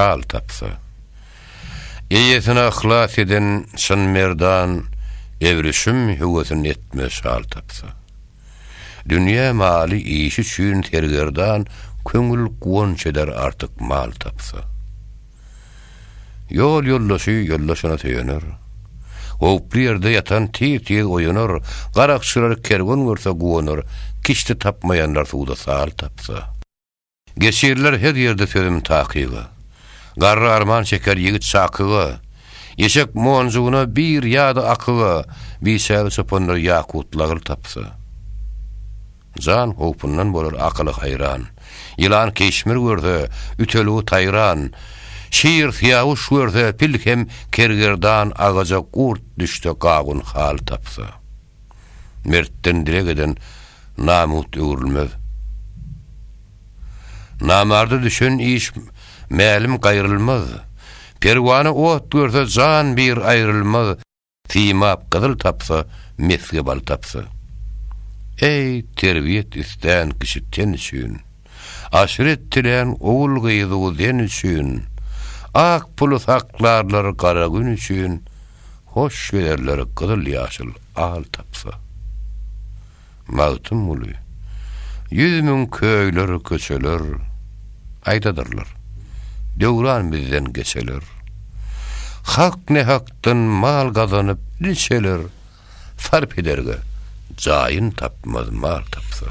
Şal tapsa. Eýesine yhlas eden çyn merdan Ebrişim höwesin etmez şal tapsa. Dünýä maly işi üçin sergerdan Köňül guwanç eder artyk mal tapsa. Ýol ýoldaşy ýoldaşyna söýener. Howply ýerde ýatan tiz-tiz oýanar, Garakçylar kerwen görse guwanar, Kiçdi tapmaýanlar suwda sal tapsa. Geçiriler her ýerde sözüm takygy. Garry arman çeker ýigit şakygy. Eşek monjugyna bir ýa-da akygy, Biçäre çopanlar ýakut lagyr tapsa. Jan howpundan bolar akyly haýran, Ýylan keşmir görse, ütüligi taýran, Şir syýawyş görse, pil hem kergerdan, Agaja gurt düşse, gawun hal tapsa. Mertden dileg eden namut öwrülmez. Namarda düşen iş mälim gaýrylmaz. Perwana ot görse jan bir aýrylmaz, Simap gyzyl tapsa, mesge bal tapsa. Eý, terbiýet istan kişi ten üçin. Aşyret dilän ogul-gyzy uzen üçin, Ak puly saklarlar gara gün üçin, Hoş gezerler gyzyl-ýaşyl al tapsa. Magtymguly, Ýüz müň köýler, köçeler, Aýdadyrlar, döwran bizden geçeler. Hak-nähakdan mal gazanyp, il içeler, Sarp ederge jaýyn tapmaz mal tapsa.